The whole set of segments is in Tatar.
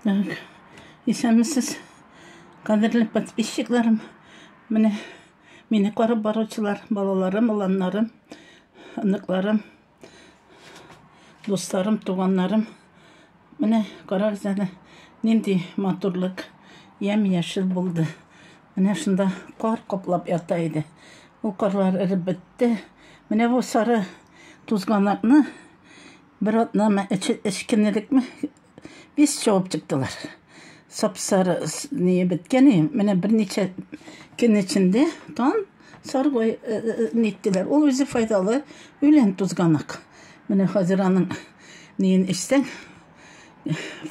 Так, исәнмесез, кадерле подписчикларым. Менә мине карап баручылар, балаларым, уланнарым, оныкларым, Дусларым, туганнарым, менә карагыз әле, нинди матурлык, ямь-яшел булды. Менә шунда кар каплап ята иде. Ул карлар эреп бетте. Менә бу сары тузганакны бер атнамы, эчкенелекме, Без чабып чыктылар. Сапсары не беткәне, менә берничә көн эчендә тан саргой ниттеләр. Э, э, э, Ул үзе файдалы үлән тузганак. Менә хәзер аның неен эчсәң,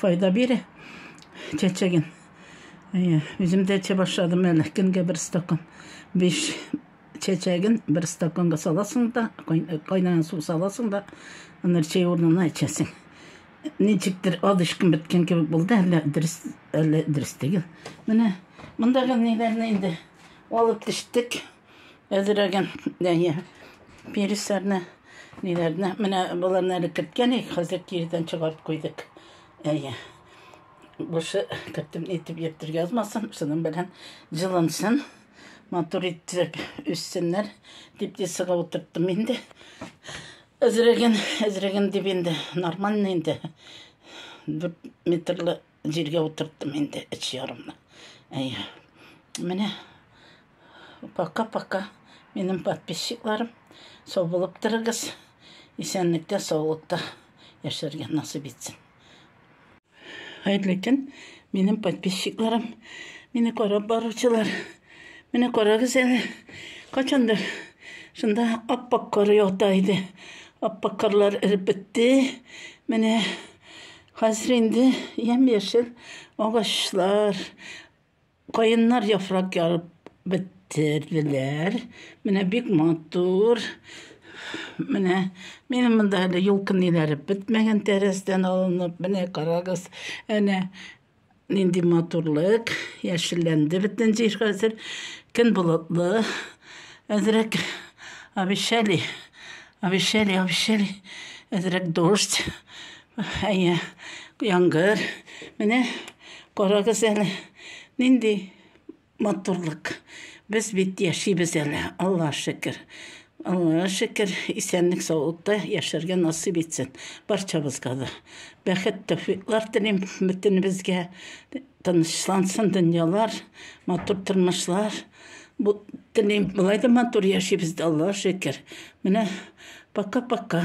файда бирә чәчәген. Үзем дә эчә башладым әле, көнгә бер стакан. Биш чәчәген бер стаканга саласың да, кайнаган су саласың да, аны чәй урынына эчәсең. ничектер адышкын беткән кебек булды, әллә дөрес, әллә дөрес түгел. Менә мондагы ниләрне инде алып төштек. Әзерәген, әйе, пересларны, ниләрне. Менә боларны әле керткән идек, хәзер кирдән чыгарып куйдык. Әйе. Бушы кертеп нитеп йөртергә язмасын, шуның белән җылынсын. Матур итеп үссеннәр дип тесыга утырттым инде. Эзреген, эзреген дип инде, нормально инде. Дүрт метрлы җиргә утырттым инде, эч ярымны. Әй, менә, пока-пока, минем подписчикларым, сау булып торыгыз, исәнлектә, саулыкта яшәргә насып итсен. Хәерле көн, минем подписчикларым, мине карап баручылар. Менә карагыз әле, качандыр шунда аппак кар ята иде. Аппак карлар эреп бетте. Менә хәзер инде ямь-яшел агачлар, Каеннар яфрак ярып бетерделәр. Менә бик матур. Менә минем монда әле юлкын иләреп бетмәгән тәрәздән алынып. Менә карагыз, әнә нинди матурлык, яшелләнде бөтен җир хәзер. Көн болытлы. Әзрәк обещали, обещали, обещали. Әзрәк дождь. Әйе, яңгыр. Менә карагыз әле, нинди матурлык. Без бит яшибез әле, Аллаһ шөкер. Аллаһ шөкер, исәнлек саулыкта яшәргә насыйп итсен барчабызга да. Бәхет, тәүфиклар телим бөтенебезгә. Тынычлансын дөньялар, матур тормышлар бу телим. Болай да матур яшибез дә, Аллага шөкер. Менә пока-пока.